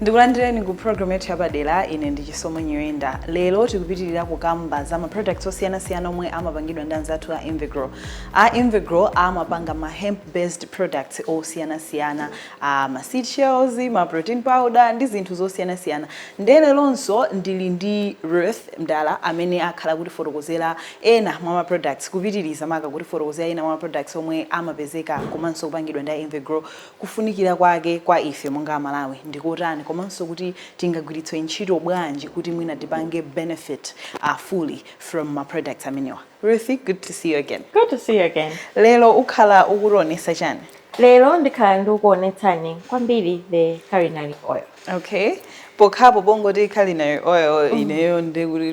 ndikulandireni ku program yathu yapadera ine ndi chisomo nyirenda lero tikupitirira kukamba za ma products osiyanasiyana omwe amapangidwa ndi anzathu a invegrow a invegrow amapanga ma hemp based products osiyanasiyana a ma seed shells ma protein powder ndi zinthu zosiyanasiyana nde leronso ndili ndi ruth mdala amene akhala kutifotokozera ena mwa ma products kupitiriza maka kutifotokozera ena mwa ma products omwe amapezeka komanso kupangidwa ndi a invegrow kufunikira kwake kwa ife monga amalawi ndi kotani komanso kuti tingagwiritse ntchito bwanji kuti mwina tipange benefit uh, fully from ma products amenewa Ruth, good to see you again good to see you again lero ukhala ukutionesa chani lero ndikhala ndikukuonetsani kwambiri the culinary oil okay pokhapo pongoti culinary oil mm. ineyo ndikuti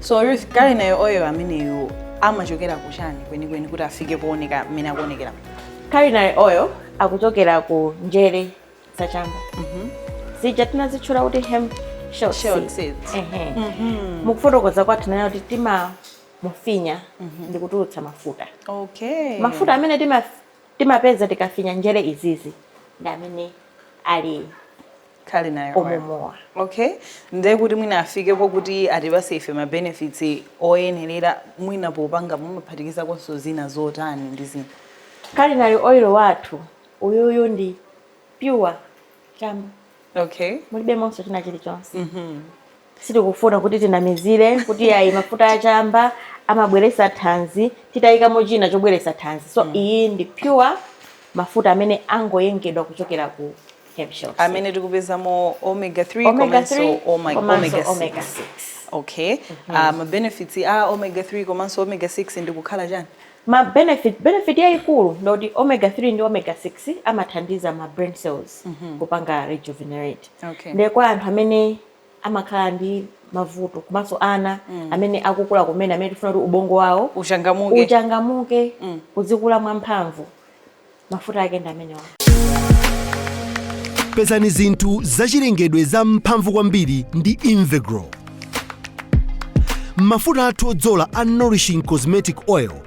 So culinary oil ameneyo amachokera ku chani kwenikweni kuti afike pooneka mmene akuonekera? Culinary oil akuchokera ku njere za chamba. Mhm. Zija tinazitchula kuti hemp shell Shelled seeds. seeds. Ehe. Mhm. Mukufotokoza kwathu nayo kuti timamufinya ndi kutulutsa mafuta. Okay. Mafuta amene tima- timapeza tikafinya njere izizi ndi amene ali Culinary oil amenewa. Okay. Ndiye kuti mwina afikeko kuti atipase ife ma benefits oyenerera mwina popanga mumaphatikizakonso zina zotani ndi zina. Culinary oil wathu uyuyu ndi pure chamba. Okay. Mulibemonso china chilichonse. Mhm. sitikufuna kuti tinamizire kuti ayi mafuta achamba amabweretsa thanzi titayikamo china chobweretsa thanzi so iyi ndi pure mafuta amene angoyengedwa kuchokera ku hemp shells amene tikupezamo omega 3 Omega komanso 3 oma- komanso omega 6 omega 6. okay Ah, ma benefits a omega 3 komanso omega 6 ndikukhala chani ma benefit benefit yayikulu ndoti omega 3 ndi omega 6 amathandiza ma brain cells kupanga rejuvenate Okay. ndiye kwa anthu amene amakhala ndi mavuto komanso ana mm. amene akukula kumene amene tifuna kuti ubongo wawo uchangamuke, uchangamuke mm. uzikula mwamphamvu mafuta ake ndi amenewa pezani zinthu zachilengedwe za mphamvu kwambiri ndi invegrow mafuta athu odzola a nourishing cosmetic oil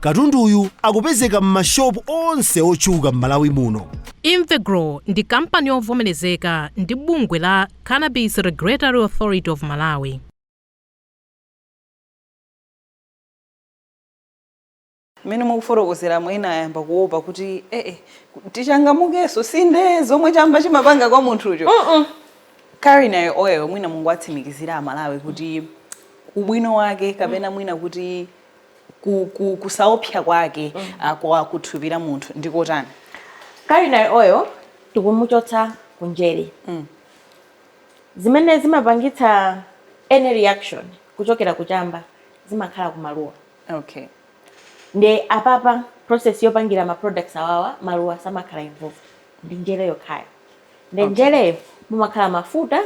Katunduyu akupezeka m'mashopu onse otchuka m'Malawi muno. Invegrow ndi kampani yovomerezeka ndi bungwe la Cannabis Regulatory Authority of Malawi. Mmene mukufotokozeramo ena ayamba kuopa kuti eeh tichangamukenso si nde zomwe chamba chimapanga kwa munthucho culinary oil mwina mungowatsimikizira amalawi kuti ubwino wake kapena mwina kuti ku, ku, kusaopsa kwake mm. Ah, kwa kuthupi la munthu ndi kotani culinary oil tikumuchotsa kunjere mm. zimene zimapangitsa any reaction kuchokera kuchamba zimakhala kumaluwa okay. nde apapa process yopangira ma products awawa maluwa samakhala involved ndi njere yokhayo nde okay. njereyo mumakhala mafuta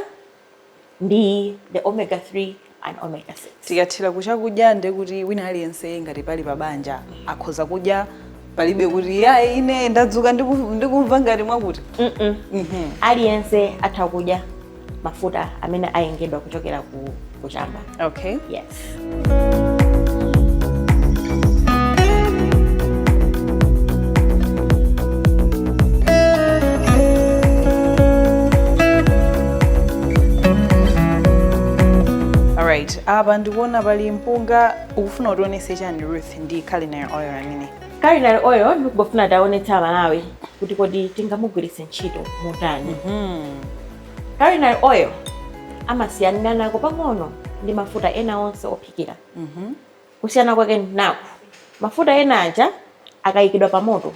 ndi the omega 3 and omega 6 tikathira kuchakudya nde kuti wina aliyense ngati pali pabanja akhoza kudya palibe kuti ayi ine ndadzuka ndiku- ndikumva ngati mwakuti Mm-mm. Mhm. aliyense atha kudya mafuta amene ayengedwa kuchokera ku kuchamba okay yes right apa ndikuona pali mpunga ukufuna utionetse chani ruth ndi culinary oil amene culinary oil ndikungofuna tionetse amalawi kuti kodi tingamugwiritse ntchito motani Mhm. culinary oil amasiyanira nako pang'ono ndi mafuta ena onse ophikira Mhm. kusiyana kwake nako mafuta ena aja akayikidwa pa moto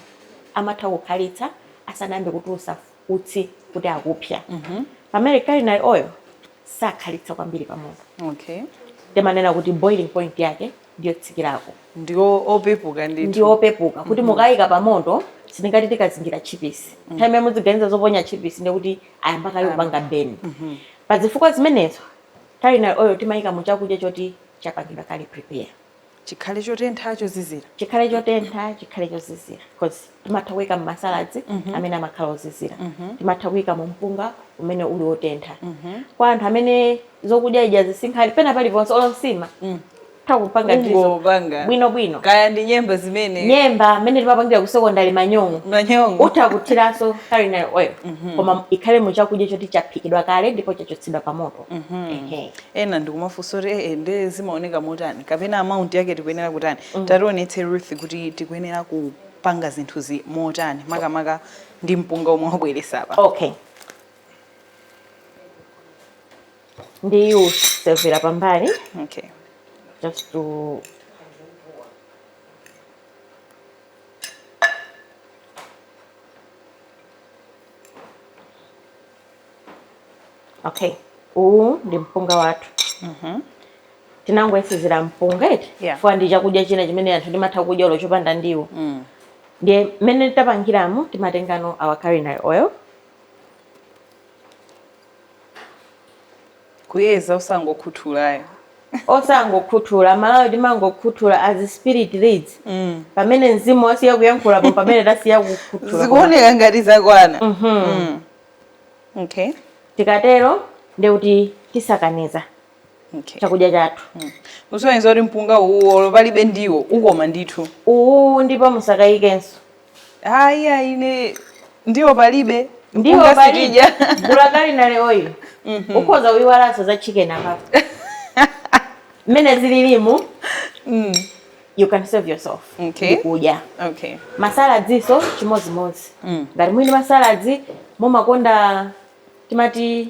amatha kukhalitsa asanayambe kutulutsa utsi kuti akupsya Mhm. pamene culinary oil sakhalitsa kwambiri pa moto Okay. timanena kuti boiling point yake ndiyotsikirako ndi opepuka ndi ndithu opepuka kuti mukayika pa moto sitingati tikazingira tchipisi nthawi imene mudziganiza zoponya tchipisi ndiye kuti ayamba kale kupanga beni pa zifukwa zimenezo culinary oil timayika mu chakudya choti chapangidwa kale prepare chikhale chotentha chozizira chikhale chotentha chikhale chozizira because timatha kuika mmasaladzi amene amakhala ozizira timatha kuika mu mpunga umene uli wotentha kwa anthu amene zokudya ija sizinkhala pena paliponse olo mu nsima utha kupanga ndizo Ungopanga. bwino bwino kaya ndi nyemba zimene nyemba mmene timapangira ku sekondari manyongo manyongo utha kuthiranso culinary oil koma ikhale mu chakudya choti chaphikidwa kale ndipo chachotsedwa pa moto Ehe. ena ndikumafunsa kuti ee nde zimaoneka motani kapena amount yake tikuyenera kutani tationetse ruth kuti tikuyenera ku kupanga zinthuzi motani makamaka ndi mpunga omwe wabweretsa apa okay ndiyu severa pambali okay just to okay uwu ndi mpunga wathu mhm. tinangoyesezera mpunga eti yeah. fwa ndi chakudya china chimene anthu timatha kudya olo chopanda ndiwo mm. ndiye mmene tapangiramo timatengano our culinary oil kuyeza osangokhuthula ayi osangokhuthula mwala ayi timangokhuthula as spirit leads mm. pamene mzimu wasiya kuyankhulapo pamene tasiya kukhuthula zikuoneka ngati zakwana mm -hmm. mm. okay tikatero ndekuti tisakaniza okay. chakudya chathu mm. usonyeza kuti mpunga uwu olo palibe ndiwo ukoma ndithu uwu ndipo musakayikenso Ayi ayi ne ndiwo palibe. Ndiwo Mpunga palibe. sitidya. Bola culinary oil. Ukhoza kuyiwalanso za chicken apa. Mmene zililimu, Mm. you can serve yourself. Okay. Nkudya. Okay. masaladzinso chimodzimodzi Mm. ngati mwina masaladzi mumakonda timati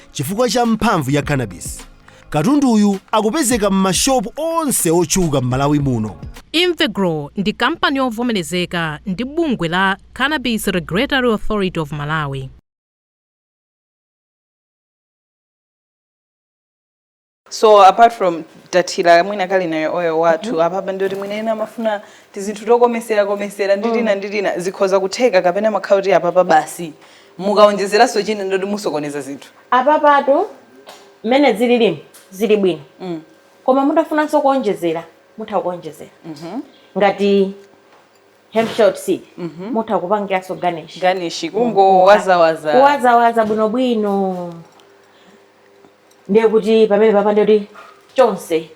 chifukwa cha mphamvu ya cannabis katunduyu akupezeka m'mashopu onse otchuka m'malawi muno Invegro ndi kampani yovomerezeka ndi bungwe la Cannabis Regulatory Authority of Malawi. so apart from kuthira mwina culinary oil wathu mm -hmm. apapa ndiyoti mwina ena amafuna tizinthu tokomesera komesera ndi tina mm. ndi tina zikhoza kutheka kapena zimakhala kuti apapa basi mukaonjezeranso china ndiyoti musokoneza zinthu apapatu mmene zililimu zili bwino mm. koma mutafunanso kuonjezera mutha kuonjezera mm -hmm. ngati hemp heart seed mm -hmm. mutha kupangiranso garnish garnish kungowazawaza kuwazawaza bwinobwino ndiye kuti pamenepapa ndiye kuti zonse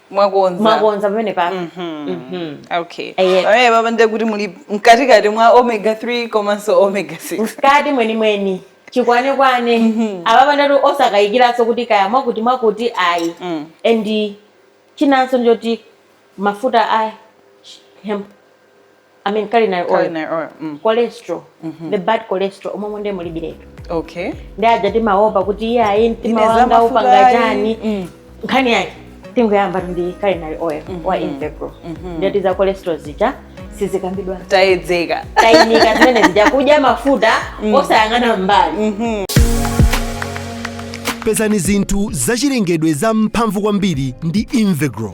mwakonza mwakonza pamene papa mhm. mhm. okay eh, pamenepapa ndiye kuti muli mkatikati mwa omega 3 komanso omega 6 mkati mwenimweni chikwanekwane mhm. apapa ndiye kuti osakayikiranso kuti kaya mwakuti mwakuti ayi mm. and chinanso ndiye kuti mafuta a hemp I mean culinary oil. Culinary oil. Mm. Cholesterol. Mm -hmm. The bad cholesterol mmenemu nde mulibiretu. Okay. Ndi aja timaopa kuti iye ayi mtima wanga upanga chani. Mm. Nkhani yake tingoyambatu ndi culinary oil mm -hmm. wa mm-hmm. Invegro. Mm -hmm. Ndiye kuti za cholesterol zija sizikambidwa. Tayedzeka. Tayinika zimene zija kudya mafuta mm. osayang'ana mbali. Mm -hmm. Pezani zinthu zachilengedwe zamphamvu kwambiri ndi Invegro.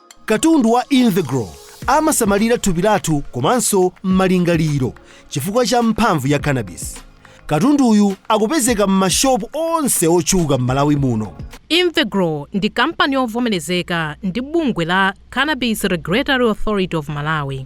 Katundu wa Invegro amasamalira thupi lathu komanso malingaliro chifukwa cha mphamvu ya cannabis. Katunduyu akupezeka m'mashopu onse otchuka m'Malawi muno. Invegro ndi kampani yovomerezeka ndi bungwe la Cannabis Regulatory Authority of Malawi.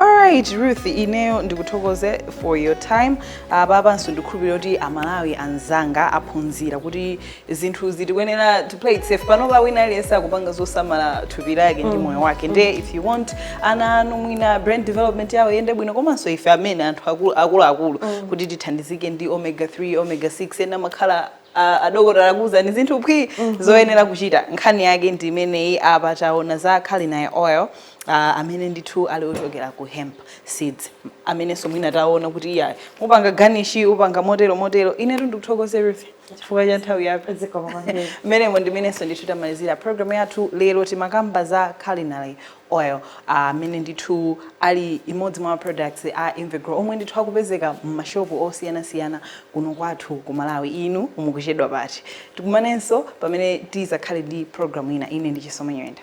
Alright Ruth ineyo ndikuthokoze for your time apapanso ndikhulupirira kuti amalawi anzanga aphunzira kuti zinthu zitikuyenera play it safe panopa wina aliyense akupanga zosamala thupi lake ndi moyo wake nde if you want ana anu mwina brain development yawo iyende bwino komanso ife amene anthu akulu- akuluakulu kuti tithandizike ndi omega 3 omega 6 ena makhala a- adokotala akuwuzani zinthu phwi zoyenera kuchita nkhani yake ndi imeneyi apa taona za culinary oil uh, amene ndithu ali ochokera ku hemp seeds amenenso mwina taona kuti iya mupanga garnish mupanga motero motero inetu ndikuthokoza everything chifukwa cha nthawi yathu zikomo kwambiri mmenemo ndimenenso ndithu tamalizira programu yathu lero timakamba za culinary oil amene uh, ndithu ali imodzi mwa ma products a Invegro omwe ndithu akupezeka m'mashopu osiyanasiyana kuno kwathu ku Malawi inu mukuchedwa pati tikumanenso pamene tizakhale ndi programu ina ine ndi Chisomo Nyenda